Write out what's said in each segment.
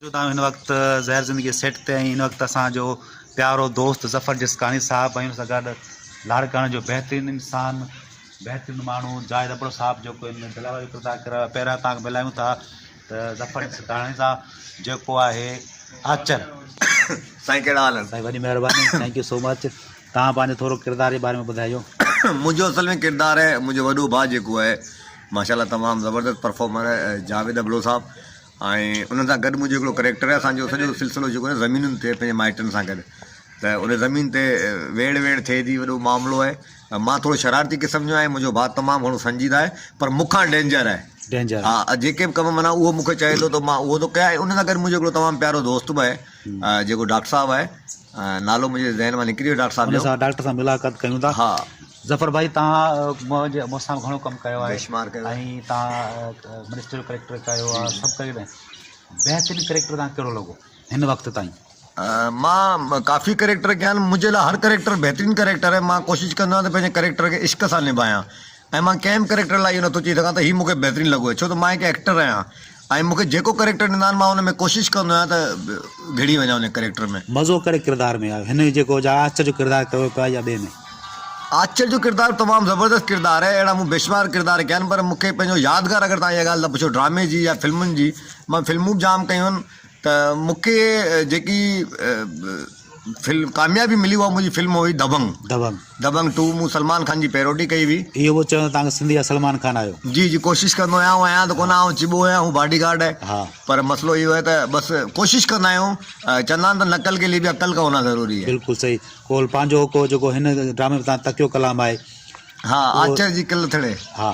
جو تان هن وقت زهر زندگي جي سيٽ تي آهين هن وقت اسان جو پيارو دوست ظفر جسڪاڻي صاحب ۽ ان سان گڏ لاڙڪاڻي جو بهترين انسان بهترين ماڻهو جاويد ابڙو صاحب جيڪو هن دلال جو ڪردار ڪريو آهي پهريان تان ملايون ٿا ته ظفر جسڪاڻي صاحب جيڪو آهي آچر سائين ڪهڙا حال آهن سائين وڏي مهرباني ٿينڪ يو سو مچ تان پنهنجو ٿورو ڪردار جي باري ۾ ٻڌايو منهنجو اصل ۾ ڪردار آهي منهنجو وڏو ڀاء جيڪو آهي ماشاءالله تمام زبردست پرفارمر جاويد ابڙو صاحب ۽ انهن سان گڏ منهنجو هڪڙو ڪريڪٽر آهي اسان جو سڄو سلسلو جيڪو آهي زمينن تي پنهنجي مائٽن سان گڏ ته ان زمين تي ويڙهه ويڙهه ٿئي ٿي وڏو معاملو آهي مان ٿورو شرارتي قسم جو آهيان منهنجو ڀاء تمام گهڻو سنجيده آهي پر مون کان ڊينجر آهي ڊينجر ها جيڪي به ڪم منا اهو مون کي چئي ٿو ته مان اهو ٿو ڪيان ان سان گڏ منهنجو هڪڙو تمام پيارو دوست به آهي جيڪو ڊاڪٽر صاحب آهي نالو منهنجي ذهن مان نڪري ويو ڊاڪٽر صاحب جو ڊاڪٽر سان ملاقات ڪيون ٿا ها ظفر ڀائي توهان مون سان گهڻو ڪم ڪيو آهي ۽ توهان منسٽر جو ڪريڪٽر ڪيو آهي سڀ ڪيو آهي بهترين ڪريڪٽر توهان کي ڪهڙو لڳو هن وقت تائين؟ مان ڪافي ڪريڪٽر ڪيا آهن منهنجي لاء هر ڪريڪٽر بهترين ڪريڪٽر آهي مان ڪوشش ڪندو آهيان ته پنهنجي ڪريڪٽر کي عشق سان نڀايان ۽ مان ڪنهن به ڪريڪٽر لاء اهو نٿو چئي سگهان ته هي مون کي بهترين لڳو آهي ڇو ته مان هڪ ايڪٽر آهيان ۽ مون کي جيڪو ڪريڪٽر ڏيندا آهن مان ان ۾ ڪوشش ڪندو آهيان ته گهڙي وڃان ان ڪريڪٽر ۾. مزو ڪهڙي ڪردار ۾ آيو هن جيڪو جا آچر جو ڪردار ڪيو پيو آهي يا ٻئي ۾؟ آچر جو ڪردار تمام زبردست ڪردار آهي اهڙا مون بيشمار ڪردار ڪيا آهن پر مون کي پنهنجو يادگار اگر تهان اها ڳالهه ته پڇو ڊرامي جي يا فلمن جي مان فلمون به جام ڪيون آهن ته مون کي جيڪي فلم ڪاميابي ملي اها منهنجي فلم هئي دبنگ دبنگ دبنگ ٽو مون سلمان خان جي پيروڊي ڪئي هئي اهو پيو چوان توهان سنڌي جا سلمان خان آهيو جي جي ڪوشش ڪندو آهيان آئون آهيان ته ڪونه آئون چٻو آهيان هو باڊي گارڊ آهي ها پر مسئلو اهو آهي ته بس ڪوشش ڪندا آهيون چوندا آهن ته نقل ڪي لي به عقل ڪا هونا ضروري آهي بلڪل صحيح ڪول پنهنجو هو ڪو جيڪو هن ڊرامي تان تڪيو ڪلام آهي ها آچر جي ڪل ٿڙي ها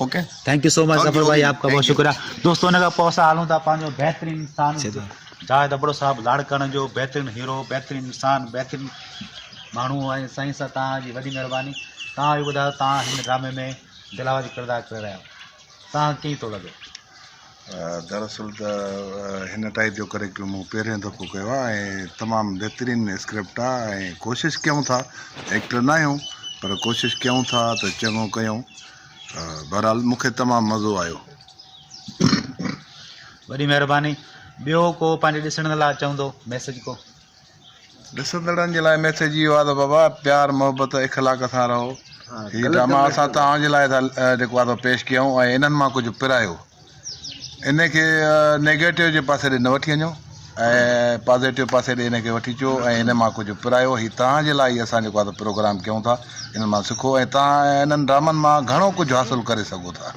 okay thank you so much Zafar ڀائي آپ کا بہت شڪريا دوستو ان کان پوء اسان هلون ٿا پنهنجو بهترين انسان جاويد ابڙو صاحب لاڙڪاڻي جو بهترين هيرو بهترين انسان بهترين ماڻهو ۽ سائين سان توهان جي وڏي مهرباني توهان به ٻڌايو توهان هن ڊرامي ۾ دل آواز جو ڪردار ڪري رهيا آهيو تان ڪيئن ٿو لڳي؟ دراصل ته هن ٽائيپ جو ڪريڪٽر مون پهريون دفعو ڪيو آهي ۽ تمام بهترين اسڪرپٽ آهي ۽ ڪوشش ڪيون ٿا ايڪٽر ناهيون پر ڪوشش ڪيون ٿا ته چڱو ڪيون بهرحال مون کي تمام مزو آيو وڏي مهرباني ٻيو ڪو پنهنجي ڏسڻ لاء چوندو ميسج ڪو ڏسندڙن جي لاء ميسيج اهو آهي ته بابا پيار محبت اخلاق سان رهو هي ڊراما اسان توهان جي لاء ٿا جيڪو آهي سو پيش ڪيون ۽ انهن مان ڪجهه پرايو ان کي نيگيٽو جي پاسي ڏي نه وٺي وڃو ۽ پازيٽو پاسي ڏي ان کي وٺي اچو ۽ ان مان ڪجهه پرايو هي توهان جي لاء ئي اسان جيڪو آهي سو پروگرام ڪيون ٿا انهن مان سکو ۽ توهان انهن ڊرامن مان گهڻو ڪجهه حاصل ڪري سگهو ٿا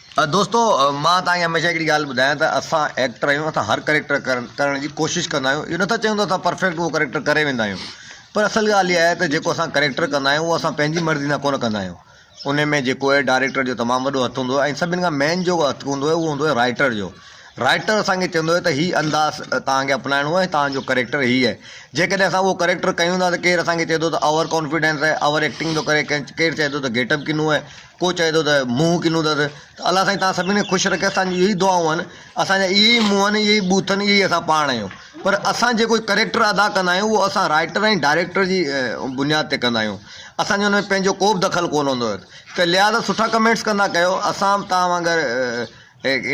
دوستو مان توهان کي هميشه هڪڙي ڳالهه ٻڌايان ته اسان ايڪٽر آهيون اسان هر ڪريڪٽر ڪرڻ جي ڪوشش ڪندا آهيون اهو نٿا چيون ته اسان پرفيڪٽ اهو ڪريڪٽر ڪري ويندا آهيون پر اصل ڳالهه اها آهي ته جيڪو اسان ڪريڪٽر ڪندا آهيون اهو اسان پنهنجي مرضي سان ڪونه ڪندا آهيون ان ۾ جيڪو آهي ڊائريڪٽر جو تمام وڏو هٿ هوندو آهي ۽ سڀني کان مين جو هٿ هوندو آهي اهو هوندو آهي رائيٽر جو رائيٽر اسان کي چوندو آهي ته هي انداز توهان کي اپنائڻو آهي توهان جو ڪريڪٽر هي آهي جيڪڏهن اسان اهو ڪريڪٽر ڪيون ٿا ته ڪير اسان کي چئي ٿو ته اوور ڪانفيڊنس آهي اوور ايڪٽنگ ٿو ڪري ڪير چئي ٿو ته گيٽ اپ ڪنو آهي ڪو چئي ٿو ته منهن ڪنو اٿس ته الله سائين توهان سڀني کي خوش رکي اسان جون اهي ئي دعائون آهن اسان جا اهي ئي منهن آهن اهي ئي بوٿ آهن اهي ئي اسان پاڻ آهيون پر اسان جيڪو ڪريڪٽر ادا ڪندا آهيون اهو اسان رائٽر ۽ ڊائريڪٽر جي بنياد تي ڪندا آهيون اسان جو ان ۾ پنهنجو ڪو به دخل ڪونه هوندو اٿس ته لهٰذا سٺا ڪمينٽس ڪندا ڪيو اسان توهان وانگر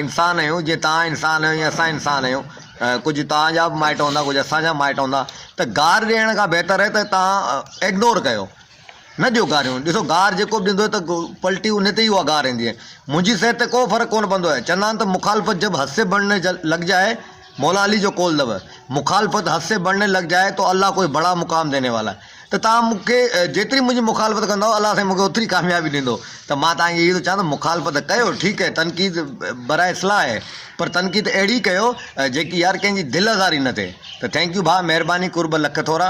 انسان آهيون جيئن توهان انسان آهيو ائين اسان انسان آهيون ڪجهه توهان جا به مائٽ هوندا ڪجهه اسان جا مائٽ هوندا ته گار ڏيڻ کان بهتر آهي ته توهان اگنور ڪيو نه ڏيو گاريون، ڏسو گار جيڪو به ڏيندو ته پلٽي انهي تي ئي اها گار ايندي. منهنجي صحت تي ڪو فرق ڪونه پوندو. چوندا آهن ته مخالفت جب حد سي بڙهني لڳ جائي، مولا علي جو قول اٿو، مخالفت حد سي بڙهني لڳ جائي تو الله ڪوئي بڙا مقام ديني والا هي. ته توهان مون کي جيتري منهنجي مخالفت ڪندؤ، الله سائين مون کي اوتري ڪاميابي ڏيندو. ته مان توهان کي اهو ٿو چوان ته مخالفت ڪيو ٺيڪ هي، تنقيد برائي اصلاح هي، پر تنقيد اهڙي ڪيو جيڪي يار ڪنهن جي دل آزاري نه ٿئي. ته ٿينڪ يو ڀاء مهرباني قرب لک ٿورا.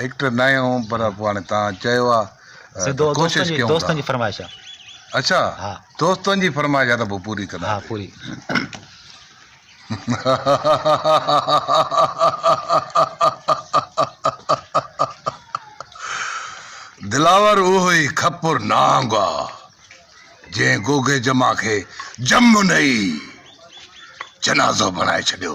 ايڪٽر ناهي هوم پر پوء هاڻي توهان چيو آ ته ڪوشش ڪيون ٿا. دوستن جي فرمائش آ. اڇا دوستن جي فرمائش آ ته پوء پوري ڪندا. ها پوري. دلاور اهو ئي خپر نانگ آ جنهن گوگي جمع کي جمنئي جنازو بڻائي ڇڏيو.